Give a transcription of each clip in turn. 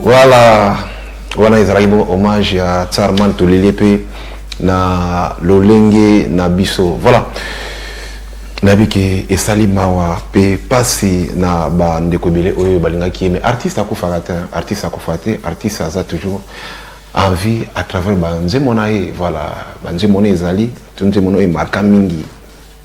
Voilà, wana ezalaki bon hommage ya Tsarman Tolele pe na lolenge na biso. Voilà. nayebi ke esali mawa mpe mpasi na bandeko ebele oyo balingaki ye me artiste akufaka te artiste akufa te artiste aza toujours en vie à travers banzembo na ye voilà banzembo na ezali to nzembo na oyo emarka mingi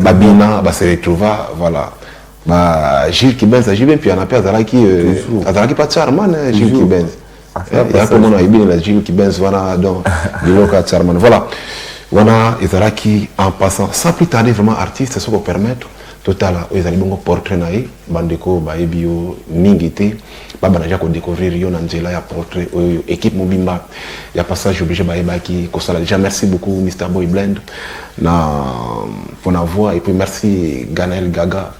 babina ba se retrouva voilà ba Gilles Kibenz ajui mpe mpiana mpe azalaki euh, azalaki mpa charman hein, Gilles Kibenz ah, eh, yakomona ebini na Gilles Kibenz wana donc biloko ya charman voilà wana ezalaki en passant sans plus tarder vraiment artiste soki opermettre totala oyo ezali bongo portrait na ye bandeko bayebi yo mingi te babanda deja kodecouvrir yo na nzela ya portrait oyo équipe mobimba ya passage oblige bayebaki kosala deja merci beaucoup mr boy blend na mpona voix et puis merci ganel gaga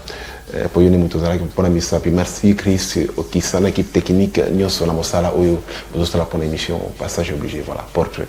eh, mpo yo nde moto ozalaki mpona misapi merci chris okisa na équipe technique nyonso na mosala oyo bozosala mpona émission passage oblige voilà portrait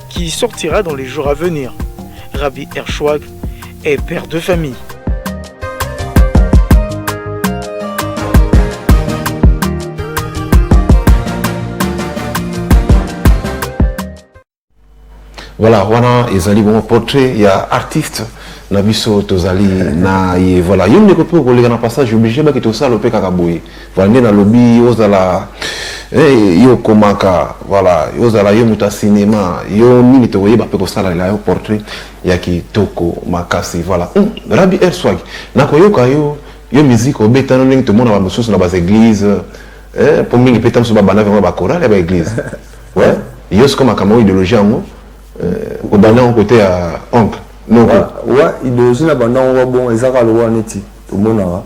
qui sortira dans les jours à venir. Rabbi Ershwag est père de famille. voilà wana ezali bongo portrait ya artiste na biso tozali na ye voilà yo ndeko mpe okoleka na passage oblige bakita osala ope kaka boye Voilà nde nalobi ozala eh, yo okomaka voilà ozala yo moto ya cinema yo nini tokoyeba mpe kosalela yo portrait ya kitoko makasi voilà mm, rabi air swag nakoyoka yo yo miziki obetana ndenge tomona bamosusu na baeglise eh, mpo mingi mpe ta mosusu babandaki yango bakorale ya baeglise we yo sikoyo makambo yango ideologie yango eh, obanda yango kote ya oncle noko wa ideologie na banda yango babongo ezaka lokola neti tomonaka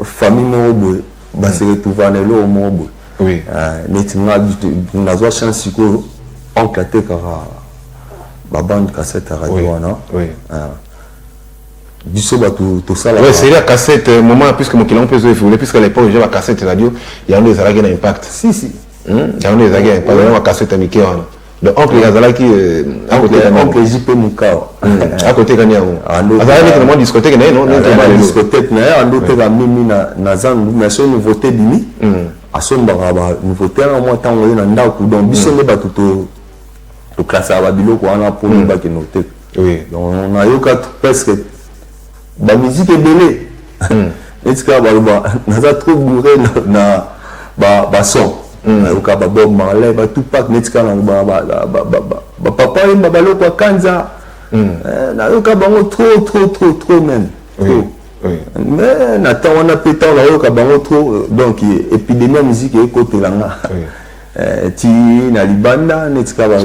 famille moko boye base retrouva na eloko moko boye oui. uh, neti nga nazwa chance sikoyo oncle atekaka babande cassette ya radio wana oui. oui. uh, biso bato tosala ouais, c'est la cassette euh, moment puisque mokili yango mpe ezo evolue puisque à l'époque déjà bacassette radio yango ezalaki na impact si si hmm? yango ezalaki na impact yango bacassette ya mike wana Donc oncle azalaki euh, akoteka nani oncle JP Mukao hmm. akoteka nani yango ah, azalaki neti na mwa discothèque na ye non neti obale discothèque na ye ando ah, teka mimi na na zangu mais so nouveauté bimi hmm. asombaka ba nouveauté na mwa tango ye na ndako donc biso hmm. nde bato to to classaka ba biloko wana po mibaki no te donc nayoka presque Ba musique ebele. Hmm. Neti kaka baloba naza trop bourré na, na ba, ba son. Hmm. Nayoka ba Bob Marley, ba Tupac, neti kaka naloba ba, ba, ba, ba, ba, ba papa yemba baloko akanza. Hmm. Eh, nayoka bango trop trop trop trop même. Trop. Oui. Oui. Mais na temps wana pe temps nayoka bango trop euh, donc epidemie ya musique ekotela nga. Oui. Eh, ti na libanda neti kaka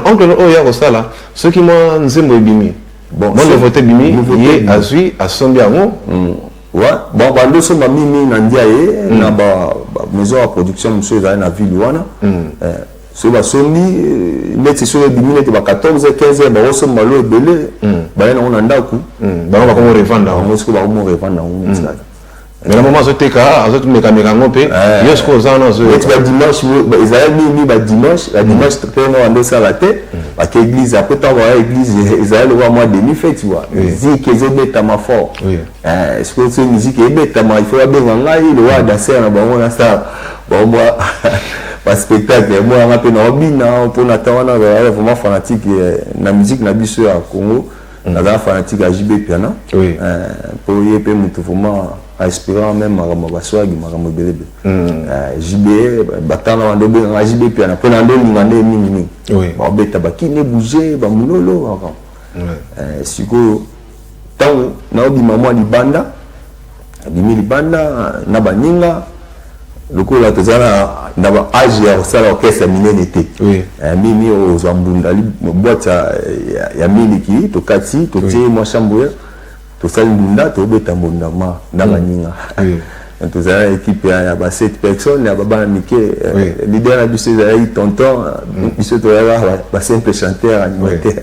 oncle oyo ya kosala soki mwa nzembo ebimi Bon, bon nouveauté bimi ye azui asombi yango hmm. ouais bon bando osomba mimi na ndiaye hmm. na ba maison ya production mosusu ezali na ville wana hmm. eh, soki basombi eh, neti soki ebimi neti ba 14 15 bakosomba lo ebele baye nango na ndako bango bakomo revanda yango soki bakomo revanda yango mais na mama azoteka azomekameka yango mpe eh. yo sikoyo oza wana azoyeti badimanche ezala nini badimanche badimanche mm. mpe nao andosala te mm. bake église apres ntango aya église ezali lokola mwa demi feti wa miziki ezobetama fort eh, sikoyo so miziki ebetama il faut babenga ngai lokola mm. danser na bango nasala bango mwa baspectacle yango yanga mpe naobina mpo na ntango wana vraiment fanatique eh, na miziki na biso ya congo naza fanatique ya JB Piana oui. euh, po ye pe mutu vraiment aspirant même makambo baswagi makambo ebele ebele mm. euh, JB batana bande obengaka JB Piana po na nde olinga nde mingi mingi oui. babeta bakine bouge bamulolo makambo euh, sikoyo ntango naobima mwa libanda Abimi libanda na baninga lokola toza na ba age ya kosala orchestre ya minene te eh, mimi ozwa mbunda boite ya miliki tokati totie mwa shambwe tosali mbunda tobeta mbunda ma na baninga tozala ekipe ya ba 7 personnes ya babana mike eh, leader na biso ezalaki tonton mm. biso toyaka ba simple chanteur animateur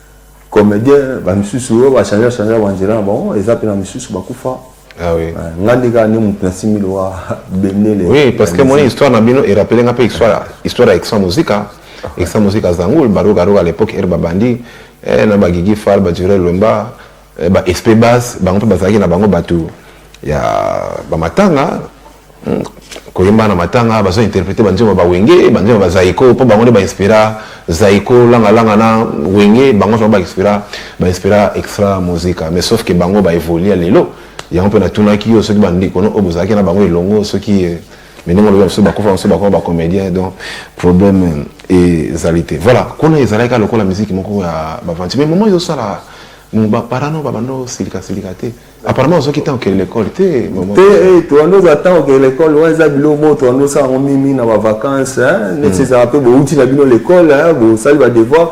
Comedien ba misusu oyo ba changer changer ba nzela na bango eza pe na misusu ba kufa. Ah oui. Euh, nga nde kaka nde moto na simbi lowa bendele. Oui, parce que moni histoire na bino e rappeler nga pe histoire histoire ya Extra Musica. Extra Musica Zangul, Baroga Roga à l'époque er babandi eh, na ba Gigi Fal, ba Durel Wemba. Eh, ba espebas bango mpe bazalaki na bango bato ya bamatanga hmm, koyemba na matanga bazo interprete banzembo ba wenge banzembo ba zaiko mpo bango nde bainspira zaiko langalanga na wenge bango nso bainspira bainspira extra musica mais sauf ke bango baevolue ya lelo yango mpe natunaki yo soki bandeko no oyo bozalaki na bango elongo soki eh, mais ndenge olobi bamosusu bakufa bamosusu bakoma bacomédien donc problème ezali te voilà kuna ezalaki kaka lokola miziki moko ya bavanti mais moment ezosala baparano babanda osilika silika te apparemment ozoki ntango okende lekole te te eh, toanda oza ntango okende lekole wana eza biloko moko toanda osala yango mingi na bavacance neti hmm. ezala mpe bouti na bino lekole bosali badevoir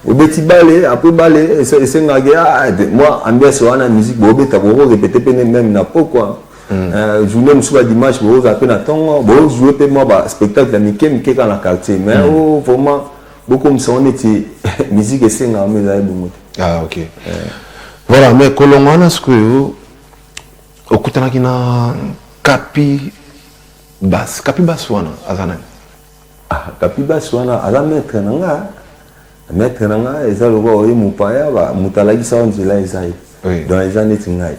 obeti bale apres bale esengaki ah, mwa ambiance wana musique bobeta koko repete mpe meme na pokwa Mm. Euh, journée mosusu ba dimanche bokozala mpe na ntongo bozoue mpe mwa ba spectacle ya mike mike kaka na quartier mais mm. o oh, vraiment bokomisa ngo neti musique esengaka ma ezali bongo te ah, ok euh. voilà mais kolongo wana sikoyo okutanaki na kapi bas kapi bas wana aza nani Ah kapibas wana aza maitre na nga maitre na nga eza lokola oye mopaya moto alakisa yo nzela eza ye oui. donc eza neti ngai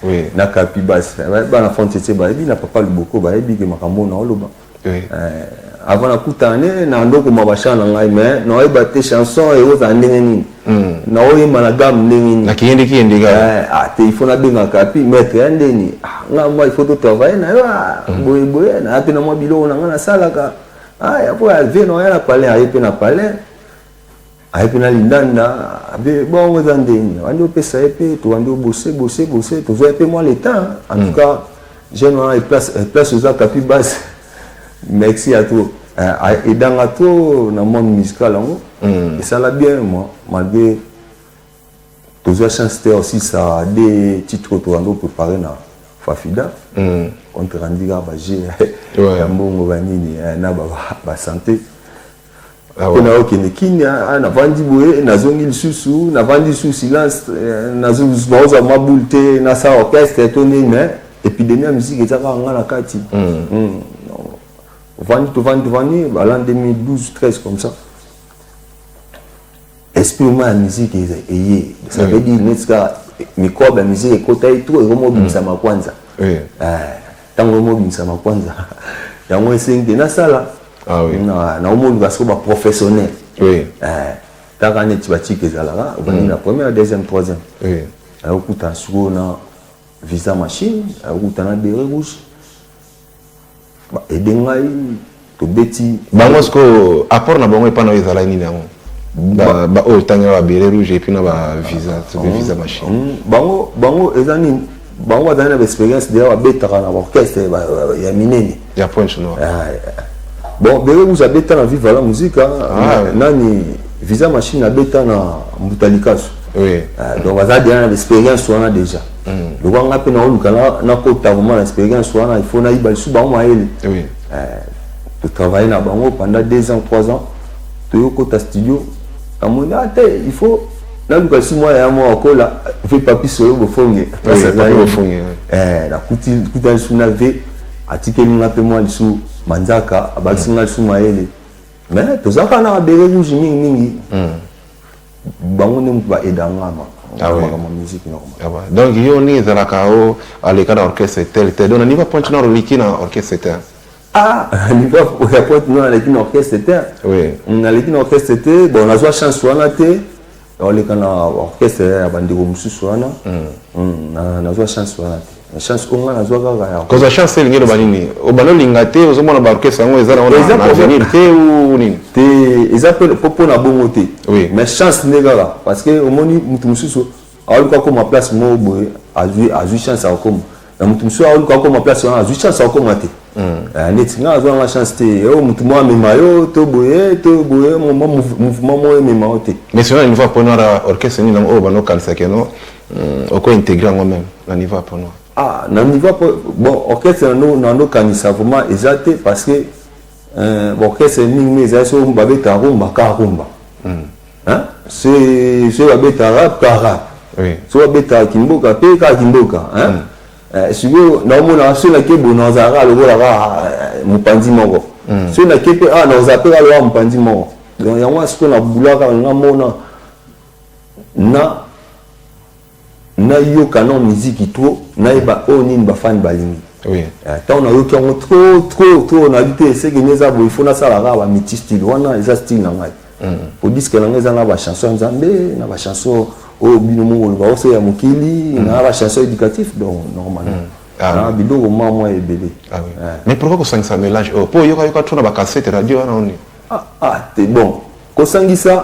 oui. na kapibas bana fontete bayebi na papa loboko bayebi ke makambo na oloba oui. eh, avant nakutana ne na ndokoma bachan na ngai mais naoyeba te chanson ekozala ndenge nini Hmm. na oye malagame ndenge nini nakeyendeki yende kaka eh, ah, te ifo nabengaka pi maître ya ndeni ah, nga mwa ifo totravaille na yo ah, hmm. boye boye naya mpe na mwa biloko na nga nasalaka aya mpo ya vie naya na palais aye mpe na palais aye mpe na lindanda abe bongo eza ndeni wandi opesa ye mpe towandi obose bose bose tozwa ye mpe mwa leta en tout hmm. cas jeune wana place eza kapi base Merci à toi. Eh, edanga trop na monde musical yango hmm. esala bien moi malgré tozwa chance te aussi ça de titre oyo tokando préparé na fafida hmm. contre andika baje ya mbongo banini eh, na basanté Ah mpe naokende kini ah, ah, navandi boye nazongi lisusu navandi lisusu silence eh, naozwa mwa boule te nasala orchestre to nini mais epidemie ya miziki eza kaka nga na kati hmm. Hmm. ovandi tovandi tovandi bala 2012 13 comme ça esprit moko ya miziki eye ça veut dire neti kaka mikrobe ya miziki ekota ye trop ekomi obimisama kwanza ntango ekomi obimisama kwanza yango esengi te nasala nakomi oluka soko baprofessionnel kaka neti batika ezalaka obandi na première deuxième troisième ayokuta sikoyo na visa machine ayokuta na bere rouge ba aide ngai tobeti bango sikoyo apport na bango epai na yo ezalaki nini yango baoyo otangela ba bele rouge epuis na ba visa soki mm. visa machine mm. bango bango eza nini bango bazali na baexpérience deya babetaka na baorchestre ya minene ya pointe noir ah, bon bele rouge abeta na viva la musica ah, nani visa machine abeta na mbuta likasu ah, donc baza deya na baexpérience wana déjà mm. lokola ngai mpe naoluka nakota vraimen na expérience wana ifo nayiba lisusu bango mayele oui. eh, totravaille na bango pendant deux ans trois ans toyokota studio namoni a ah, te il faut naluka lisusu mwana ya mwa akola mpe papi solo bofonge eh, nakutani lisusu na ve atikeli nga mpe mwa lisusu manzaka abakisi nga lisusu mayele mais tozalaka na babere rouge mingimingi mm. bango nde moto ba aida nga ma ah ouais. makambo musique normal ah ouais. donc yo ndenge ezalaka o aleka na orchestre tel tel donc na niveau pointe noir oliki na orchestre tel ah niveau ya pointe noir aleki na orchestre tel oui naleki na orchestre te bon nazwa chance wana te oleka na orchestre ya bandeko mosusu wana nazwa chance wana te chance ko nga nazwa kaka yango kozwa chance elingi eloba nini obanda olinga te ozomona baorchestre yango eza nango na avenir te ou nini te eza mpe mpo na bongo te mais chance nde kaka parce que omoni moto mosusu aoluka akoma place moko boye azwi azwi chance akokoma na moto mosusu aoluka akoma place wana azwi chance akokoma te neti nga azwa nga chance te yo moto moko amema yo to boye to boye mouvement moko emema yo te mais sona niveau ya pone wana orchestre nini yango oyo banokanisaki no Hum, oko integrer yango meme na niveau ya panoa ah na niveau ya bon orchestre na no na no kanisa vraiment eza te parce que euh, bon orchestre mingi mingi eza so ba beta rumba ka rumba mm. hein c'est c'est ba beta rap ka rap oui so ba beta kimboka pe ka kimboka hein mm. euh, sikoyo na omona so na ke bonanzara lokola ka euh, mopanzi moko mm. so na ke pe ah na ozape ka lokola mopanzi moko donc yango sikoyo na bulaka nga mona na nayoka nao miziki trop nayeba oyo oh, nini bafani balingi eh, ntango nayoki yango tro tro tro nayebi te eseke nde eza boye fo nasala kaka bamiti style wana eza style na ngai mm. po diske na ngai eza na bachanson ya nzambe na bachanson oyo oh, bino moko oloba oso ya mokili mm. na bachanson éducatif donc normal mm. ah, na biloko mwa mwa ebele ah eh. mais pourquoi kosangisa mélange oyo oh, mpo oyokayoka tro na bacasete radio wana oni ah, ah te bon kosangisa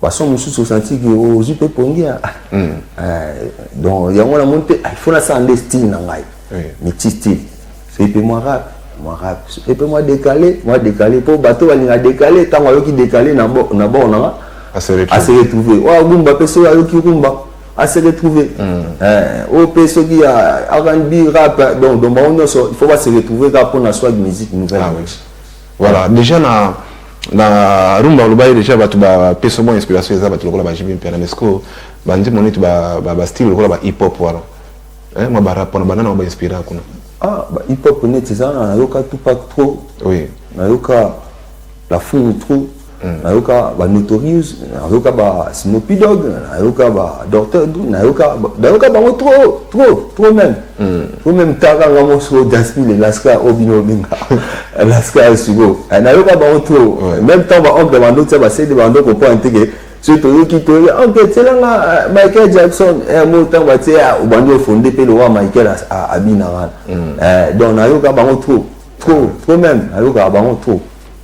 façon mosusu osanti ke ozwi mpe pongi ya hmm. eh, donc yango na moni mpe ah, ifo nasala nde style na ngai miti style epe mwa rap mwa rap epe mwa décalé mwa décalé mpo bato balinga décalé ntango ayoki décalé na bord na nga ase retrouve oyo agumba mpe soki ayoki rumba ase retrouve hmm. eh, oyo mpe soki ya rnb rap donc donc bango nyonso il faut base retrouve kaka mpo na swag musique nouvelle ah Voilà dejà na na rumba olobaki dejà bato bapesa mwa inspiration eza bato lokola ba JB Mpiana mais sikoyo banzembo neti bastyle lokola ba hip hop wana mwa barap wana banana ba inspira kuna ah ba hip hop neti eza wana nayoka Tupac trop oui nayoka La Fouine trop nayoka ba notorious nayoka ba snoopy dog nayoka ba docteur dru nayoka nayoka bango trop trop trop même mm. trop même taka nga moso daspi le laska o bino obenga laska ya siko nayoka bango trop mm. même temps ba oncle bando tia basede bando comprendre te ke soki toyoki toyoki oncle tielanga michael jackson mo ntango batie obandi ofonde mpe lowa michael abina wana donc nayoka bango trop trop trop même nayokaka bango trop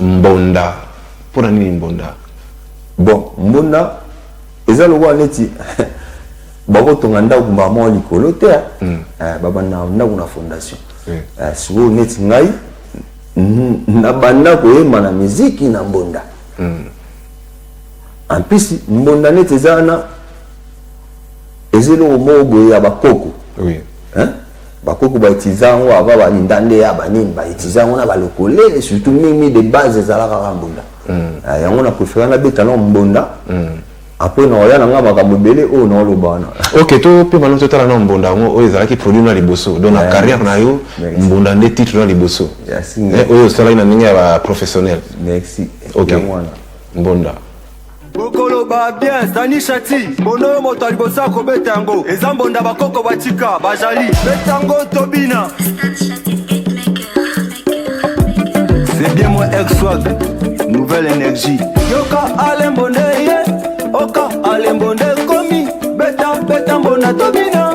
Mbonda pona nini mbonda bon mbonda eza lokola neti bakotonga ndako mbala moko likolo te ah. hmm. eh, babanda ndako na fondation hmm. eh, sikoyo neti ngai nabanda koyemba na miziki na mbonda hmm. en plus mbonda neti eza wana eza eloko moko boye ya bakoko eh? Bakoko ba utilisaka yango avant ba lindande ya ba nini ba utiliser yango na ba lokole surtout mingi mingi de base ezalaka kaka mbunda. Ah, yango na préfère na beta na mbunda. Après na oya na nga makambo ebele oyo na oloba wana. Ok to pe bana totala na mbunda yango oyo ezalaki produit na liboso donc na Yeah. carrière na yo Merci. mbunda nde titre na liboso Merci. Eh, oyo osalaki na ndenge ya ba professionnel Merci. Ok. Yango wana. mbunda bokoloba bien zani shati mbondo yo moto ya liboso ya kobeta yango eza mbonda bakoko batika bajali beta yango tobina c'est bien moi exwag nouvelle énergie yoka alembo nde ye oka alembo nde komi beta beta mbonda tobina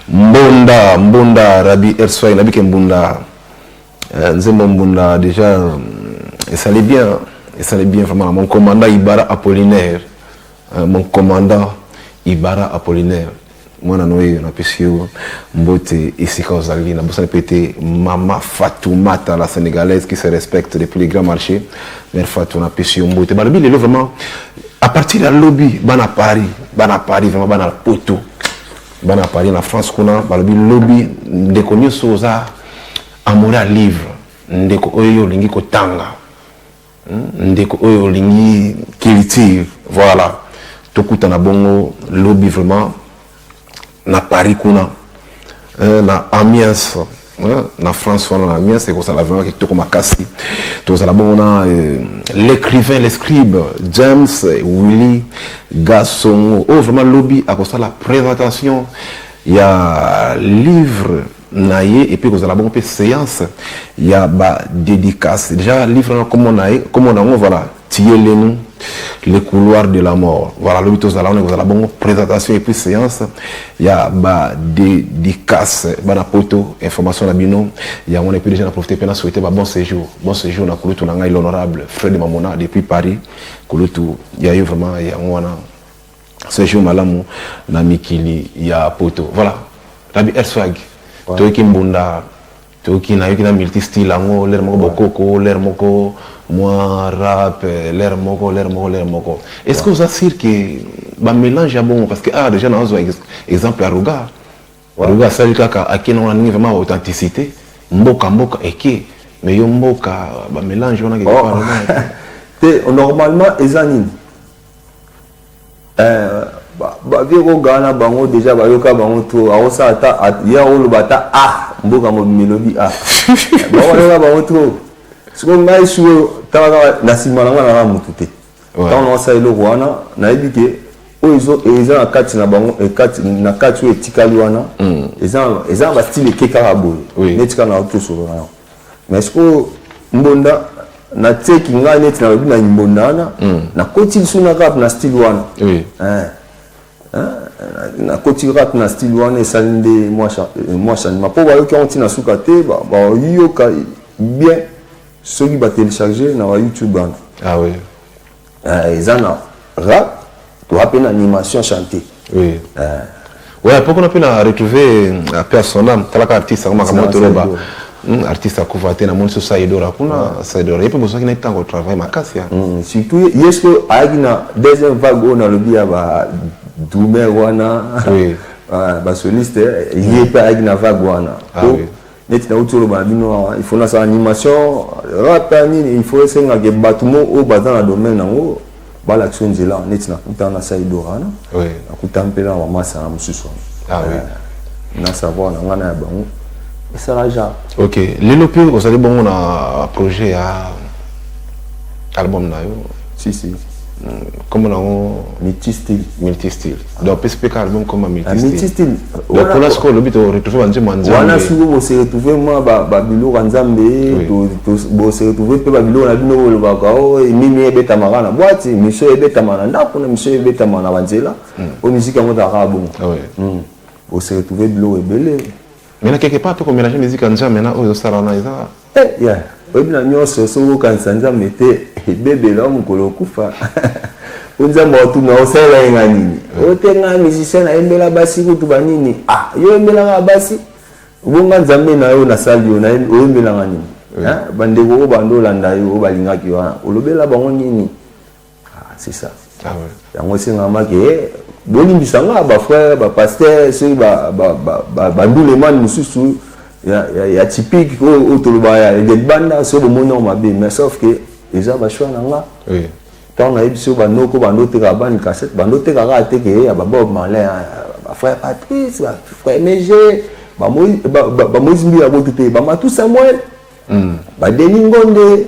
Mbonda mbonda Rabbi Ersway nayebi ke mbunda eh, nzembo mbunda deja mm, esali bien esali bien vraiment mon commandant Ibara Apollinaire eh, mon commandant Ibara Apollinaire mwana na oyo napesi yo mbote esika ozali nabosani mpe te mama Fatoumata la sénégalaise qui se respecte depuis le grand marché mère Fatou napesi yo mbote balobi lelo vraiment à partir ya lobi bana Paris bana Paris vraiment bana poto bana paris na france kuna balobi lobi ndeko nyonso oza amore ya livre ndeko oyo olingi kotanga hmm? ndeko oyo olingi culture voilà tokutana bongo lobi vraiment na paris kuna euh, na amiens Hein, na France wana na mias ekozala vraiment kitoko makasi tozala bongo na euh, l'écrivain l'escribe James Willy Gasongo oyo oh, vraiment lobi akosala présentation ya livre na ye epuis ekozala bongo mpe séance ya badédicace déjà livre wana komona ye komona yango voilà Tiyele nous le couloir de la mort voilà lobi tozala wana ekozala bongo présentation et puis séance ya ba dédicace bana poto information na bino yango wana epuis déjà na profite mpe na souhaite ba bon séjour bon séjour na kulutu na ngai l'honorable fred mamona depuis paris kulutu ya yo vraiment yango wana séjour malamu na mikili ya poto voilà rabi erswag toyoki mbunda Toyoki nayoki na multi style yango lere moko bokoko lere moko mwa rap lere moko lere moko lere moko est ce que oza sur ke bamélange ya bongo parce que awa ah, déjà nazwa exemple ya ruga ruga asali kaka ake nango na ndenge vraiment authenticité mboka mboka eke mais yo mboka bamélange wana oh. te normalement eza nini Eh, ba vieux ko gana bango deja ba yoka bango trop. Ako sa ata ye ako loba ata ah mboka mobimba elobi ah. Ba ko yoka bango trop. Siko ngai siko tala kaka na sima na ngai na mutu te. Tango na sa eloko wana na yebi ke oyo ezo eza na kati na bango e kati na kati oyo etikali wana hmm. eza eza ba style ke kaka boye. Oui. Netika na to solo na. Mais sikoyo mbonda na tseki ngai neti nalobi na mbonda wana hmm. nakoti lisu na rap na style wana eh. nakoti rap na style wana esali nde mwa euh, changement mpo bayoki yango ntina suka te bayoka bien soki batelecharge na bayoutube wana ah Eh, eza na rap toa mpe na animation chante oui. eh. ouais, mpo kuna mpe na retrouve euh, pe asona talaka artiste yango makambo toloba hmm, artiste akufa te namoni so saidora kuna ah. saidora ye mpe bozwaki na ntango travail makasi ya hmm, surtout ye soki ayaki na deuxième vague oyo nalobi ya ba dumer wana basoliste ye mpe ayaki na vague wana ah neti nauti oloba na bino awa il faut nasala animation rata nini il faut esengake bato mo oyo baza na domaine yango balakisa nzela neti nakutana na saidora wana nakutana mpe na bamasa na mosusu wana ah eh, na savoir na ngai na ya bango esala genre ok lelo mpe ozali bongo na projet ya album na yo si si nkombo na yango multistil multistil donc apesi mpe ka album comme amitistine lokola sikoyo olobi toretrouve banzembo ya nzambe wana sikoyo boseretrouve mwa babiloko ya nzambe boseretrouve mpe babiloko na bino bolobaka o nini ebetamaka na bwati misio ebetama na ndako na misio ebetama na banzela o hmm. miziki yango ezalaka bongo boseretrouve biloko ebele mais na quelque part mpe komélange miziki ya nzambe na oyo ezosala wana eza Eh yaya oyebi na nyonso soki okanisa nzambe te ebebela yo mokolo okufa po nzambe akotuna osalela ye ngai nini hmm. oyo te ngai musicien nayembela basi kutu banini ah yo oyembelaka basi bonga nzambe na yo nasali yo oyembelaka nini bandeko oyo bando olanda yo oyo balingaki yo wana olobela bango nini Ah, c'est ça. Ah ouais. Yango esengama ke bolimbisa nga ba frère ba pasteur soki ba ba ba ba, ba ndule man mususu ya ya, ya typique oyo oh, oh, toloba ya de banda so bomoni yango mabe mais sauf que eza ba choix na nga. Oui. Tant na biso ba noko ba ndote ka bani cassette ba ndote ka ka te ke ya ba Bob Marley hein, ba frère Patrice ba frère Neje ba Moïse ba, ba, ba Moïse Mbila botu te ba Matou Samuel. Mm. Ba Denis Ngonde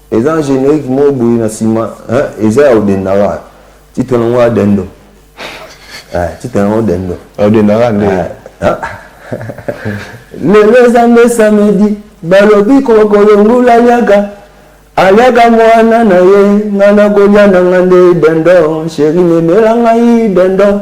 Eza na generique moko boye na sima hein eza ya odendaka titre na ngo adendo eh titre na ngo dendo odendaka nde hein lelo eza nde samedi balobi kokolongula liaka aliaka mwana na ye nga nakolya na nga nde dendo sheri memela ngai dendo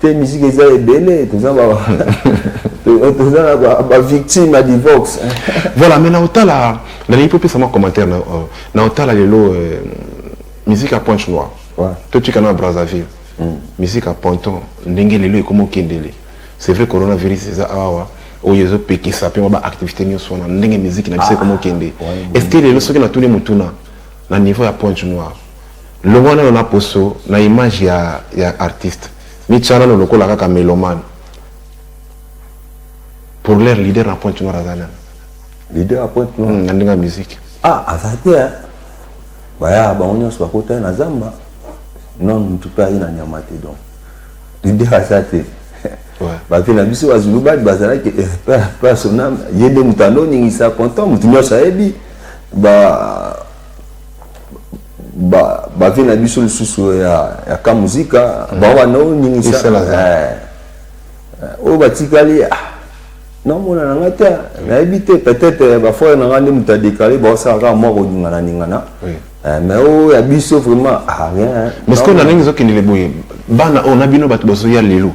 Te musique eza ebele toza ba toza na ba, ba victime ya divorce. voilà mais na otala na lingi popesa mwa commentaire na, uh, na otala lelo uh, musique ya pointe noire ouais. totika na Brazzaville mm. musique ya ponton ndenge lelo ekoma okendele c'est vrai coronavirus eza awa oyo ezopekisa mpe mwa baactivité nyonso wana ndenge miziki na biso ah, ekoma okende est ce que lelo soki natuni motuna na niveau ya pointe noire Longwa nano n'a poso n'a image ya ya artiste mitia nano lokola kaka meloman pour leur leader na pointe noire aza nani leader ya pointe noire hmm, na ndenge ya musique ah aza te hein. baya bango nyonso bakota na zamba non motu mpe aye na nyama te donc leader aza te bape na biso bazulu badi bazalaki eh, mpe asonam ye nde moto anoningisa kontan moto nyonso ayebi ba ba ba vie na biso lisusu ya ya ka muzika mm. ba ba no nini ça eh, eh, oyo batikali ah namona na ngai te nayebi te peut-être eh, bafrere na ngai nde moto adekale baosala kaka mwa koningana ningana eh, mais oyo oh, ya biso vraiment ah, rien mais ceque na ndenge ezokendele boye bana oyo oh, na bino bato bazoya lelo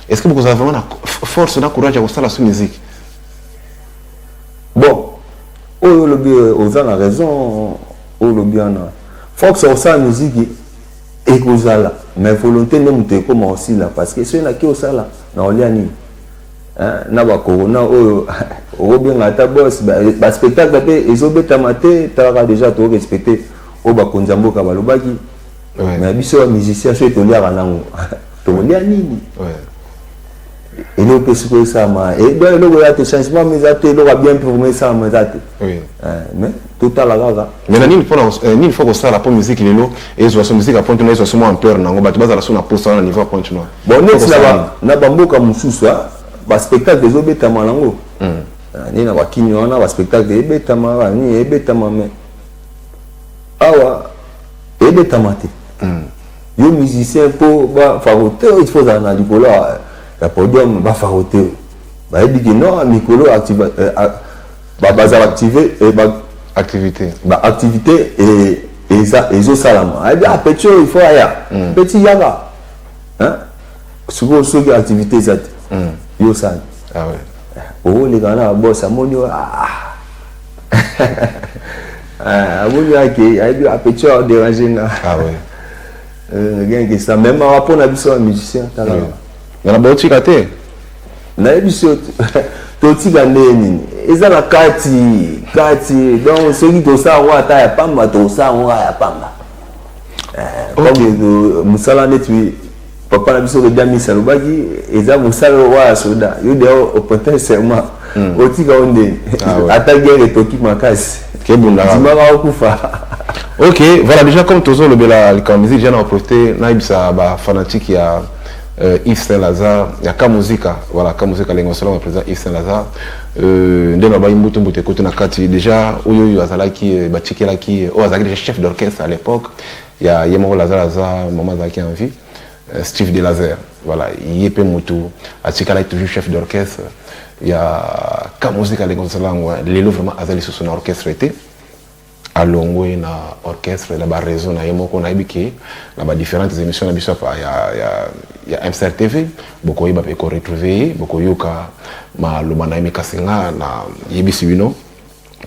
est ce que bokozala vraiment na force na courage ya kosala so musique Bon, oyo olobi oza na raison oyo olobi wana. Fox akosala miziki ekozala mais volonté nde moto ekoma kosila parce que soki nake osala na olia nini na bakorona oyo okobenga ata bos baspectacle mpe ezobetama te talaka deja torespecte oyo bakonzi ya mboka balobaki mais biso bamusicien soki toliaka nango tokolia nini eloko mpe sikoyo esalama eh, donc eloko eza te changement ma eza te eloko ya bien mpe esalama eza te eh, mais totala kaka mais na nini mpona eh, nini fo kosala mpo miziki lelo ezwa so miziki ya pointe noir ezwa so mwa ampeur na yango bato bazala so na posa wana na niveau ya pointe noir bon neti na bamboka mosusu ah, baspectacle ezobetama nango hmm. ah, nini na bakini wana baspectacle ebetama banini ebetama mais awa ebetama te hmm. Yo musicien mpo bafarote il faut ozala na likolo ya podium bafarote bayebi ke no mikolo bazala active activité baactivité ezosalama ayebi a petit oyo il faut aya hmm. petit yaka sikoyo soki activité eza te hmm. yo osali ah oleka na babos amoni oyo ah, ah. Ah, amoni ake ayebi apetit ah, aoderange nga ah, euh, genge sa meme awa mpo na biso ya musicien tala ngana baotika te nayebi so totika ndenge nini eza na kati kati donc soki tosala yango ata ya pamba tosala yango ya pamba eh, mosala neti papa na biso lobi amisi alobaki eza mosala oyo ya soda yo deya oprete serment hmm. otika yo nde ah ata guerre etoki makasi dimaka okufa ok voilà déjà comme tozolobela likambo musique ja na oprete nayebisa bafanatique ya euh, Yves Saint Lazare ya ka muzika voilà ka muzika lengo solo na président Yves Saint Lazare euh nde na bayi mbutu mbutu ekote na kati déjà oyo oyo azalaki euh, batikelaki euh, oyo azalaki déjà chef d'orchestre à l'époque ya ye moko lazare aza mama azalaki en vie euh, steve de lazare voilà ye mpe motu atikalaki toujours chef d'orchestre ya ka mosika leko tosala yango lelo vraiment aza lisusu na orchestre te alongwe na orchestre na baraison na ye moko nayebi ke na badifférentes émissions na biso ya, ya, ya msr tv bokoyeba mpe koretrouve ye bokoyoka maloba na ye mikasi nga nayebisi bino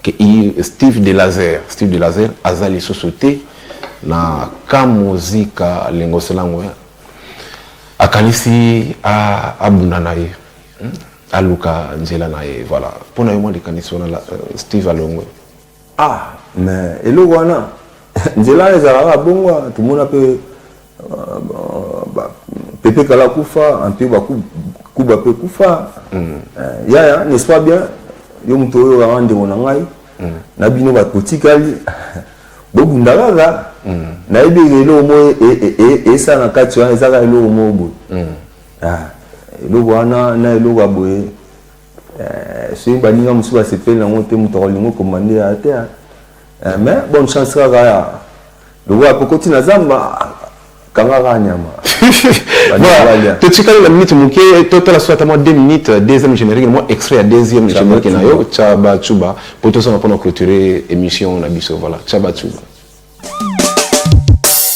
que Steve de Laser, Steve de Laser aza lisusu te na kamuzika lengoselango hein. akanisi abunda na ye hmm? aluka nzela na ye voilà mpo na yo mwa likanisi wana euh, Steve alongwe ah mais eloko wana nzela ezalaka bongo tomona mpe Pepe kala kufa anto ba kuba pe kufa mm. eh, yaya n'est-ce pas bien yo moto oyo kaka ndeko na ngai mm. na bino bato botikali bobunda kaka mm. nayebi eloko moko e, e, e, esala na kati wana ezaka eloko moko boye ah, eloko wana na eloko ya boye eh, soki baninga mosusu basepeli nango te moto akolinga okoma nde ya te ah. Eh, mais bonne chance kaka ya lokola kokoti na zamba kanga kaka nyama totikali na minute moke totala soki ata mwa 2 minutes deuxième générique mwa extrait ya deuxième générique na yo chaba chuba mpo tozonga mpo na clôturer émission na biso voilà chaba chuba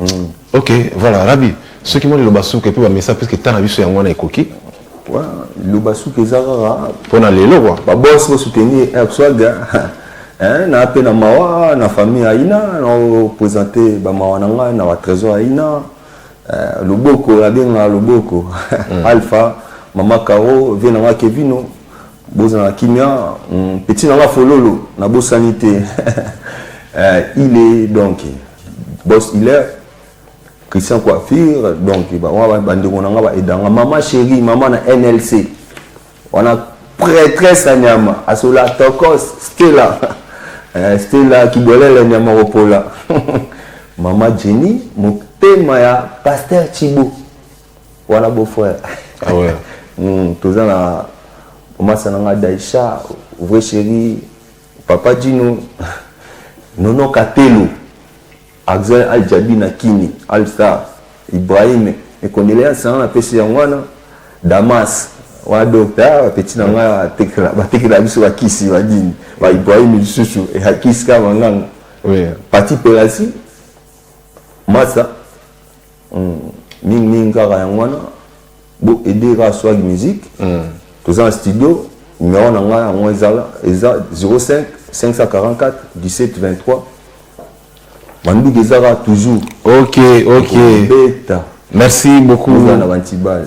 Mm. Ok, voilà, Rabbi, ceux qui m'ont dit le basouka et puis bamesa parce que tana biso yango wana ekoki. Ouais, le basouka eza kaka pona lelo quoi. Ba boss ko soutenir un swaga. Hein, na pe na mawa, na famille aina, na présenter ba mawa na ngai na ba trésor aina. Euh, loboko la benga loboko. Mm. Alpha, mama Caro, vie na Kevino. Bozala kimia mm, petit nanga fololo na bosani te euh, il est donc boss il est Christian Coiffure donc ba wa ba ndeko nanga ba edanga maman chérie maman na NLC on a prêtresse à Nyama asola tokos Stella euh, Stella kibolele Nyama opola maman Jenny motema ya pasteur Chibo wana beau frère ah ouais mm, toza na omasa na nga Daisha vrai chéri papa Dino Nono Katelo Axel Al Jabi na Kini Al Star Ibrahim mes condoléances na napesi yango wana Damas wana docteur ah, petit na nga tekela batekela biso bakisi badini ba Ibrahim lisusu ehakisi kaka manganga oui. Pati Pelasi Masa Hum, mingi mingi kaka yango wana bo aider kaka swag musique hum. toza na studio numero na ngai yango ezala eza 05 544 17 23 manduki eza kaka toujours ok ok beta merci beaucoup na bantibale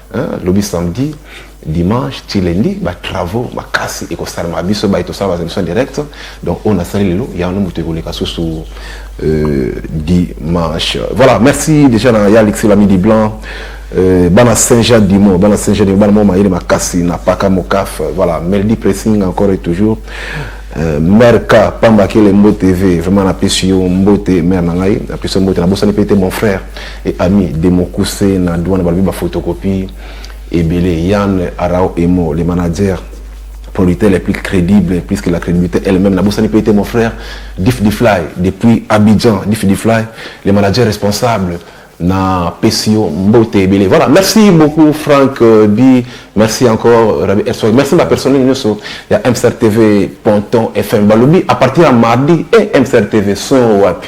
Hein, lobi samedi dimanche ti lundi ba travaux makasi ekosalama biso baye tosala ba émission directe donc oyo nasali lelo yango moto ekoleka susu euh, dimanche voilà merci déjà na ya alexi lamidi blanc euh, bana saint jean dimo bana saint jean dimo bana mwa mayele makasi na paka mokaf voilà melody pressing encore et toujours Euh, mère K, Pamba Kele Mbo TV, vraiment la pression Mbote, mère Nangai, la pression Mbote, la bossane mon frère. et ami demokuse na douane balobi ba photocopie ebele yann arao emo le manager producteur les plus crédibles puisque la crédibilité elle-même nabosani mpe ete mon frère dif difly depuis abidjan dif difly le manager responsable na pesi yo mbote ebele voilà merci beaucoup frank euh, di merci encore rabi ersoi merci bapersonnel nyonso ya msr tv ponton fm balobi à partir ya mardi e eh, msr tv son wapi